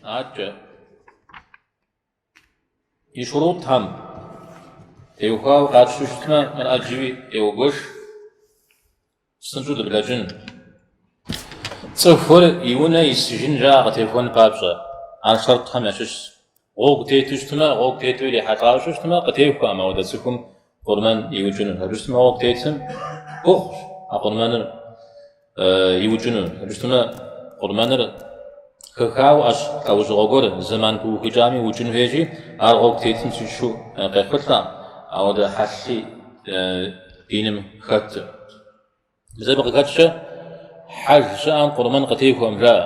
Аркӏэ. И шурутхэм теухуауэ къатщтэу щытмэ, мыр ӏэджэуи еугуэш, псынщӏэу дыблэкӏын. Цӏыхур и унэ исыжын жаӏэ къытехуэн папщӏэ, ар шэртхэм ящыщщ. Гъуэгу тету щытмэ, гъуэгу тету ирихьэлӏауэ щытмэ, къытехуэкъым, ауэдэ цӏыхум Къурмэн иукӏыну абы щытмэ гъуэгу тетым ӏуэхущ а къурмэныр иукӏыну. Абы щытмэ къурмэныр хэхауэ ӏэщ лӏэужьыгъуэ гуэр зэман пыухыкӏам иукӏын хуейщи, ар гъуэгу тетым сищу къехъулӏэ, ауэдэ хьэлъи диным хэту. Езы абы къыхэкӏкӏэ хьэж щыӏэм къурмэн къытехуэкъым жаӏэ.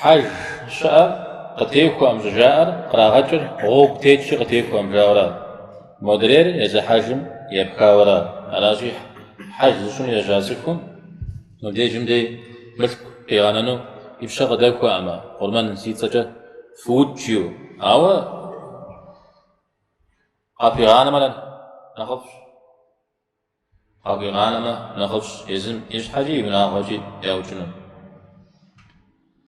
Хьэж щыӏэр къытехуэкъым щӏыжаӏэр кърагъэкӏыр гъуэгу тетщи къытехуэкъым жаурэ, модрейр езы хьэжым епхауэрэ. Аращи, хьэж зыщӏыну ежьа цӏыхум мыбдежым дей мылъку къигъэнэну и пщэ къыдэхуэкъымэ, къурмэн си цӏэкӏэ фыукӏыу, ауэ къахуигъанэмэ нэхъыфӏщ. Къахуигъанэмэ нэхъыфӏщ езым и щхьэкӏи и унагъуэкӏи яукӏыну.